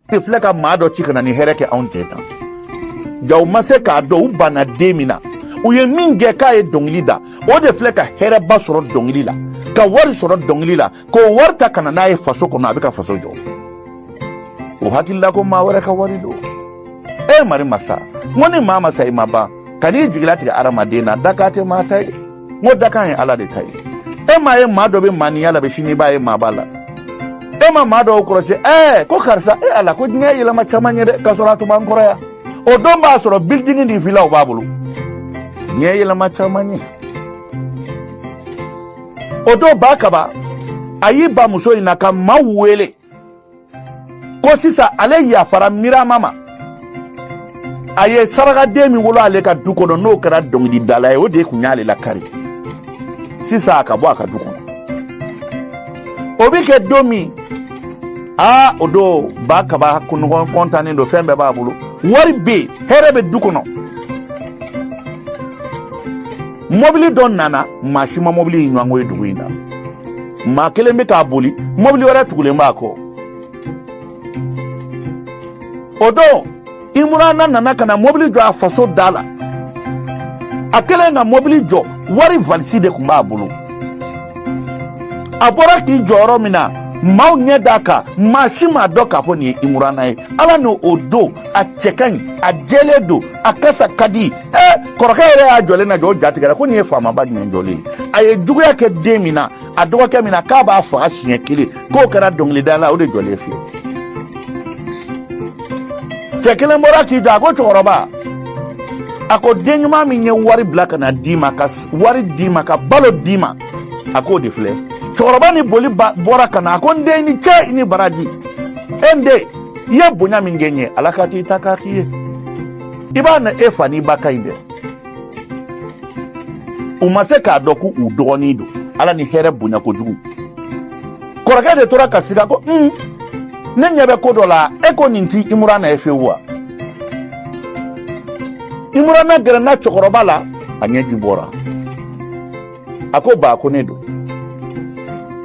de filɛ ka maa dɔ ci ka na ni hɛrɛ kɛ anw tɛ tan ja u ma se k'a dɔn u banna den min na u ye min gɛn k'a ye dɔnkili da o de filɛ ka hɛrɛba sɔrɔ dɔnkili la ka wari sɔrɔ dɔnkili la k'o wari ta ka na n'a ye faso kɔnɔ a bɛ ka faso jɔ u hakili la ko maa wɛrɛ ka wari don e mari masa n ko ni maa ma sa i ma ban kan'i jigi latigɛ adamaden na dakan tɛ maa ta ye n ko dakan ye ala de ta ye e m'a ye maa dɔ bɛ maaninya la bi sini i b'a ye maaba la e ma maa dɔw kɔrɔsi ɛɛ ko karisa e ala ko diɲɛ yɛlɛma caman ye dɛ k'a sɔrɔ a tun b'an kɔrɔ yan o don b'a sɔrɔ bilidingi ni vilaw b'a bolo diɲɛ yɛlɛma caman ye o don ba kaba a y'i ba muso in na ka maaw wele ko sisan ale yafara mirama ma a ye sarakaden min wolo ale ka du kɔnɔ n'o kɛra dɔnkilidala ye o de tun y'ale lakari sisan a ka bɔ a ka du kɔnɔ o bɛ kɛ don min aa o don ba kaba kunɲɔgɔn kɔntannen don fɛn bɛɛ b'a bolo wari bɛ yen hɛrɛ bɛ du kɔnɔ mɔbili dɔ nana maa si ma mɔbili in ɲɔgɔnko ye dugu in na maa kelen bɛ k'a boli mɔbili wɛrɛ tugulen b'a kɔ o don imurana nana ka na mɔbili jɔ a faso da la a kɛlen ka mɔbili jɔ wari valisi de tun b'a bolo a bɔra k'i jɔ yɔrɔ min na maaw ɲɛ d'a kan maa si m'a dɔn k'a fɔ nin ye imurana ye ala n'o o don a cɛ ka ɲi a jɛlen don a kasa ka di ɛ kɔrɔkɛ yɛrɛ y'a jɔlen na jɔ o jatigɛra ko nin ye faamaba jumɛn jɔlen ye a ye juguya kɛ den min na a dɔgɔkɛ min na k'a b'a faga siɲɛ kelen k'o kɛra dɔnkilidala o de jɔlen filɛ cɛ kelen bɔra k'i jɔ a ko cɛkɔrɔba a ko den ɲuman min ye wari bila ka na d'i ma ka wari d'i ma ka balo d'i ma a k'o de filɛ cɛkɔrɔba ni boli bɔra ka na a ko n den i ni cɛ i ni baraji e n den i ye bonya min kɛ n ye ala k'a to i ta k'a k'i ye i b'a na e fa n'i ba ka ɲi dɛ u ma se k'a dɔn ko u dɔgɔnin don ala ni hɛrɛ bonya kojugu kɔrɔkɛ de tora ka siga ko un ne ɲɛ bɛ ko dɔ la e ko nin tɛ imurana ye fewu wa imurana gɛrɛnna cɛkɔrɔba la a ɲɛji bɔra a ko ba ko ne don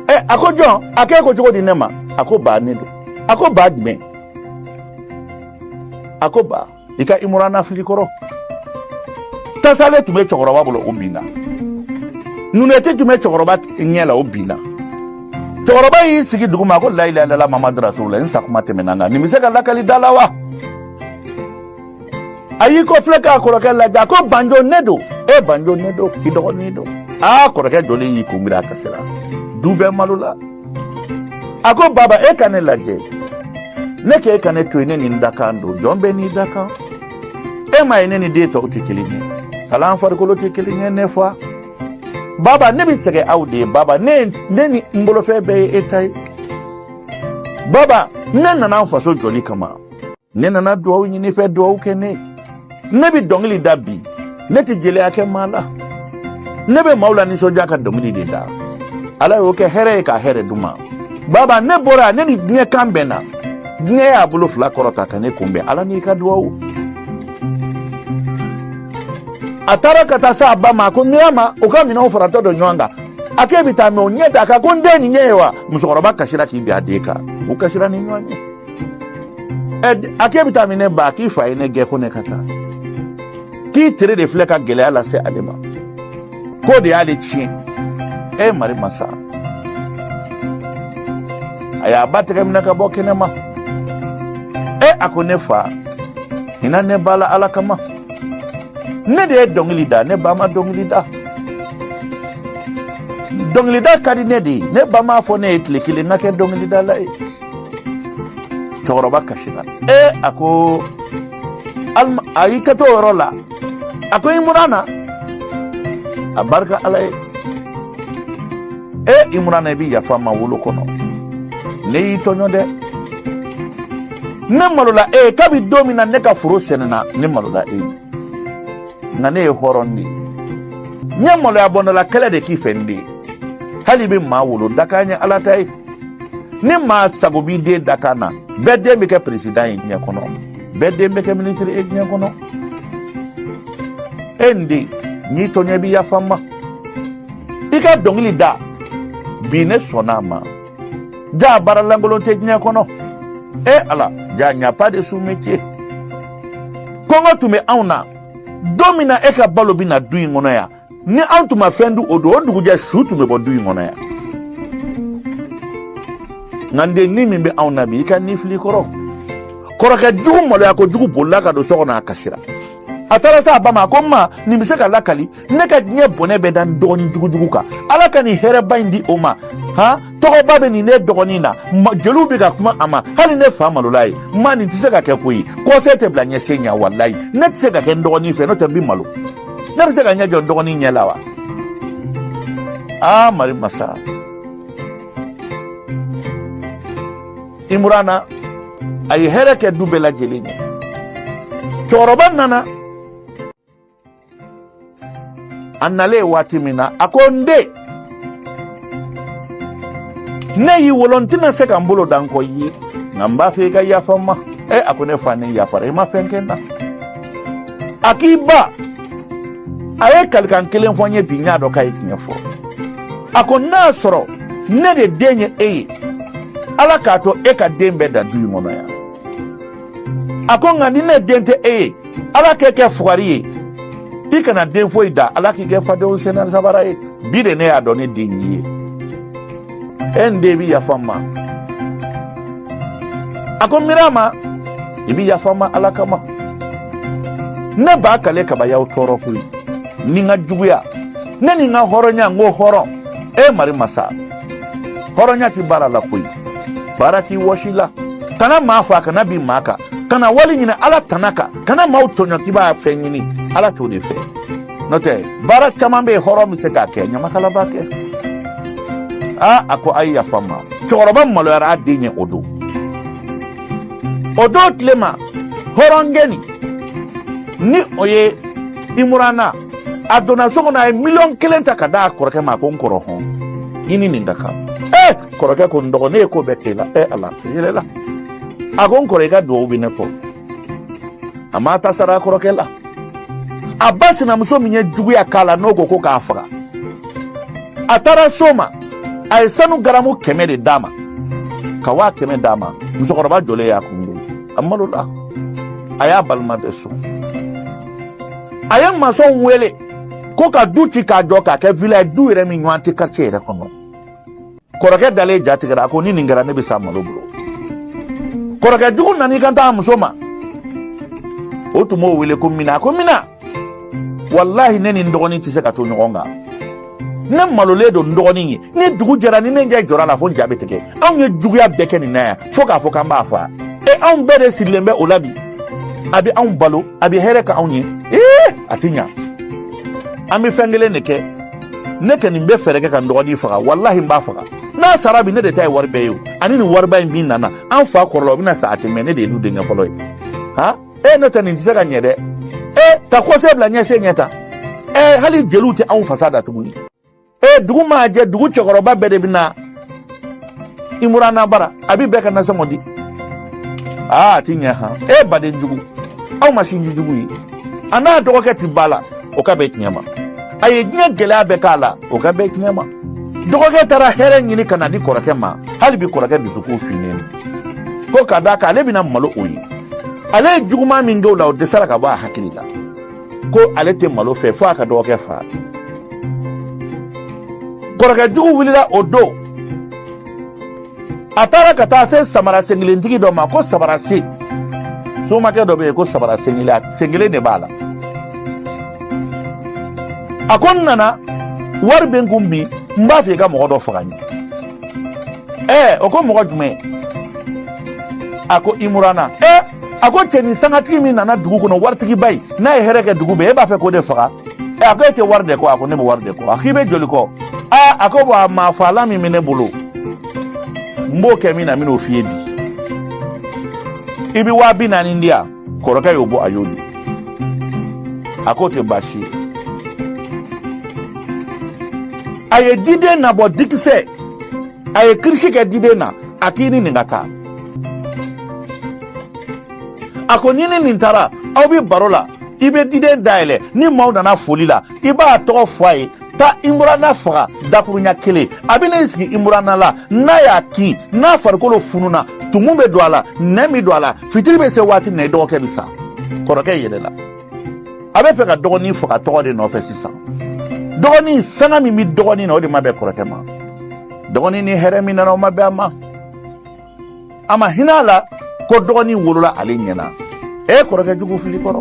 ɛ a ko jɔn a k'e ko cogo di ne ma a ko ba ne don a ko ba jumɛn a ko ba i ka imurana fili kɔrɔ tasale tun bɛ cɛkɔrɔba bolo o binna nunɛti tun bɛ cɛkɔrɔba ɲɛ la o binna cɛkɔrɔba y'i sigi dugu ma ko layilayilala mamadu rasulula n sakuma tɛmɛna n kan nin bɛ se ka lakali da la wa a y'i kɔ filɛ k'a kɔrɔkɛ lajɛ a ko banjo ne don e banjo ne don i dɔgɔnin don aa kɔrɔkɛ jɔlen y'i kunbiri a kasira du bɛɛ malola a ko baba e ka ne lajɛ ne k'e ka ne to yen ne ni n dakan don jɔn bɛɛ n'i dakan e m'a ye ne ni den tɔw tɛ kelen ye hali an farikolo tɛ kelen ye ne fa baba ne bɛ sɛgɛn aw de ye baba ne ni n bolofɛn bɛɛ ye e ta ye baba ne nana n faso jɔli kama ne nana dugawu ɲini i fɛ dugawu kɛ ne ne bɛ dɔnkili da bi ne tɛ jeliya kɛ maa la ne bɛ maaw lanisɔndiya ka dɔnkili de da ala y'o kɛ hɛrɛ ye ka hɛrɛ d'u ma baba ne bɔra ne ni diɲɛ kan bɛnna diɲɛ y'a bolo fila kɔrɔta ka ne kunbɛn ala n'i ka dugawu a taara ka taa s'a ba ma ko mirama o ka minɛnw faratɔ don ɲɔgɔn kan a k'e bɛ taa min o ɲɛ d'a kan ko n den nin ɲɛ ye wa musokɔrɔba kasira k'i bin a den kan u kasira ni ɲɔgɔn ye a k'e bɛ taa min ne ba a k'i fa ye ne gɛn ko ne ka taa k'i tere de filɛ ka gɛlɛya lase ale ma k'o de y'ale tiɲɛ e mari masa a y'a ba tɛgɛ minɛ ka bɔ kɛnɛ ma e a ko ne fa hinɛ ne ba la ala kama ne de ye dɔnkili da ne ba ma dɔnkili da dɔnkilida ka di ne de ye ne ba m'a fɔ ne ye tile kelen n ka kɛ dɔnkilidala ye cɛkɔrɔba kasira ee a ko a y'i kɛ to o yɔrɔ la a ko imurana a barika ala ye ee imurana i bɛ yafa n ma wolo kɔnɔ ne y'i tɔɲɔ dɛ ne malola e ye kabi don min na ne ka foro sɛnɛna ne malola e ye nka ne ye hɔrɔn de ye n ye maloya bɔndala kɛlɛ de k'i fɛ n den hali i bɛ maa wolo dakan ye ala ta ye ni maa sago b'i den dakan na bɛɛ den bɛ kɛ peresidan ye diɲɛ kɔnɔ bɛɛ den bɛ kɛ minisiri ye diɲɛ kɔnɔ e n den n y'i tɔɲɔ i bɛ yafa n ma i ka dɔnkili da bi ne sɔnna a ma jaa baara lankolon tɛ diɲɛ kɔnɔ e ala jaa n'y a pas de sous-métier kɔngɔ tun bɛ anw na don min na e ka balo bɛ na du in kɔnɔ yan ni anw tun ma fɛn dun o don o dugujɛ su tun bɛ bɔ du in kɔnɔ yan nka n den ni min bɛ anw na bi i ka ni filɛ kɔrɔ kɔrɔkɛ jugu maloya kojugu bolila ka don so kɔnɔ a kasira a taara s'a ba ma a ko n ma nin bɛ se ka lakali ne ka diɲɛ bɔnɛ bɛɛ da n dɔgɔnin jugujugu kan ala ka nin hɛrɛba in di o ma han tɔgɔba bɛ nin ne dɔgɔnin na jeliw bɛ ka kuma a ma hali ne fa malola ye ma nin tɛ se ka kɛ koyi kɔsen tɛ bila ɲɛsen ɲɛ walayi ne tɛ se ka kɛ n dɔgɔnin fɛ n'o tɛ n bɛ malo ne bɛ se ka ɲɛ jɔ n dɔgɔnin ɲɛ la wa aa mari masa imurana a ye hɛrɛ kɛ du bɛɛ lajɛlen ye cɛkɔrɔba nana a nalen waati min na a ko n den ne y'i wolo n tɛna se ka n bolo da n kɔ i ye nka n b'a fɛ i ka yafa n ma e a ko ne fa ne yafara i ma fɛn kɛ n na a k'i ba a ye kalikan kelen fɔ n ye bi n y'a dɔn k'a ye tiɲɛ fɔ a ko n'a sɔrɔ ne de den ye e ye ala k'a to e ka den bɛɛ dan du in kɔnɔ yan a ko nka ni ne den tɛ e ye ala k'e kɛ fugari ye i kana den foyi dan ala k'i kɛ fadenw sen na sabara ye bi de ne y'a dɔn ne den y'i ye e n den i bɛ yafa n ma a ko imurana i bɛ yafa n ma ala kama ne b'a kale kabayaw tɔɔrɔ koyi ni n ka juguya ne ni n ka hɔrɔnya n ko hɔrɔn e mari masa hɔrɔnya tɛ baara la koyi baara t'i wɔsi la kana maa faga kana bin maa kan kana wari ɲini ala tana kan kana maaw tɔɲɔ k'i b'a fɛn ɲini ala t'o de fɛ n'o tɛ baara caman bɛ yen hɔrɔn bɛ se k'a kɛ ɲamakala b'a kɛ aa a ko a ye yafa n ma cɛkɔrɔba maloyara a den ye o don o don tilema hɔrɔnkɛ nin ni o ye imurana a donna so kɔnɔ a ye miliyɔn kelen ta k'a d'a kɔrɔkɛ ma ko n kɔrɔ hɔn i ni nin ka kan ee kɔrɔkɛ ko n dɔgɔ ne ye ko bɛɛ k'e la ee ala yɛlɛla a ko n kɔrɔ i ka duwawu bɛ ne kɔ a m'a ta sara a kɔrɔkɛ la a ba sinamuso min ye juguya k'a la n'o ko ko k'a faga a taara so ma a ye sanu garamu kɛmɛ de d'a ma ka waa kɛmɛ d'a ma musokɔrɔba jɔlen y'a kun a malola a y'a balima bɛɛ sɔn a ye masɔnw wele ko ka du ci k'a jɔ k'a kɛ vila ye du yɛrɛ min ɲɔgɔn tɛ karice yɛrɛ kɔnɔ kɔrɔkɛ dalen ja tigɛra a ko ni nin kɛra ne bɛ sa malo bolo kɔrɔkɛ jugu nana i kanto a muso ma o tun b'o wele ko mina a ko mina walahi ne ni n dɔgɔnin tɛ se ka to ɲɔgɔn kan ne malolen don n dɔgɔnin ye ni dugu jɛra ni ne ɲɛ jɔr'a la fo n ja bɛ tigɛ anw ye juguya bɛɛ kɛ nin na yan fo k'a fɔ k'an b'a faga e anw bɛɛ de sirilen bɛ o la bi a bɛ anw balo a bɛ hɛrɛ k'anw ye ee a tɛ ɲa an bɛ fɛn kelen de kɛ ne kɛ ni n bɛ fɛɛrɛ kɛ ka n dɔgɔnin faga walahi n b'a faga n'a sara bi ne de ta ye wari bɛɛ ye o ani nin wariba in min nana an fa kɔrɔla o bɛna sa a tɛ mɛɛn ne de ye du denkɛ fɔlɔ ye ha e n'o tɛ nin tɛ se ka ɲɛ dɛ e ka kɔsen bila ɲɛsen ɲɛ tan e hali jeliw tɛ anw fasa da tuguni e dugu maa jɛ dugu cɛkɔrɔba bɛɛ de bɛ na imurana bara a bɛ bɛɛ ka nasɔngɔ di aa a ti ɲɛ han e baden jugu aw ma sinji jugu ye a n'a dɔgɔkɛ ti ba la o ka bɛɛ tiɲɛ ma a ye diɲɛ gɛlɛya bɛɛ k'a la o ka bɛɛ tiɲɛ ma dɔgɔkɛ taara hɛrɛ ɲini ka na di kɔrɔkɛ ma hali bi kɔrɔkɛ dusukun finnen ko ka da kan ale bɛna malo o ye ale ye juguman min kɛ o la o dɛsɛra ka bɔ a hakili la ko ale tɛ malo fɛ fo a ka dɔgɔkɛ fa kɔrɔkɛ jugu wulila o don a taara ka taa se samara senkelentigi dɔ ma ko samara se somakɛ dɔ bɛ yen ko samara senkelen senkelen de b'a la a ko n nana wari bɛ n kun bi n b'a fɛ i ka mɔgɔ dɔ faga n ye ɛɛ o ko mɔgɔ jumɛn a ko imurana ɛɛ a ko cɛnin sangatigi min nana dugu kɔnɔ waritigiba ye n'a ye hɛrɛ kɛ dugu bɛɛ e b'a fɛ k'o de faga ɛ a ko e tɛ wari de kɔ a ko ne bɛ wari de kɔ a k'i bɛ joli kɔ aa a ko bɔn a maa faalan min bɛ ne bolo n b'o kɛ min na n bɛn'o f'i ye bi i bɛ waa bi naani di yan kɔrɔkɛ y'o bɔ a y'o di a k'o tɛ baasi a ye diden nabɔ dikisɛ a ye kirisi kɛ diden na a k'i ni nin ka taa a ko n'i ni nin taara aw bɛ baro la i bɛ diden dayɛlɛ ni maaw nana foli la i b'a tɔgɔ fɔ a ye taa imurana faga dakuruɲa kelen a bɛna i sigi imurana la n'a y'a kin n'a farikolo fununa tumu bɛ don a la nɛn bɛ don a la fitiri bɛ se waati min na i dɔgɔkɛ bɛ sa kɔrɔkɛ yɛlɛla a bɛ fɛ ka dɔgɔnin faga tɔgɔ de nɔfɛ sisan dɔgɔnin sanga min bɛ dɔgɔnin na o de ma bɛn kɔrɔkɛ ma dɔgɔnin ni hɛrɛ min nana o ma bɛn a ma a ma hinɛ a la ko dɔgɔnin wolola ale ɲɛna e kɔrɔkɛ jugu filɛ kɔrɔ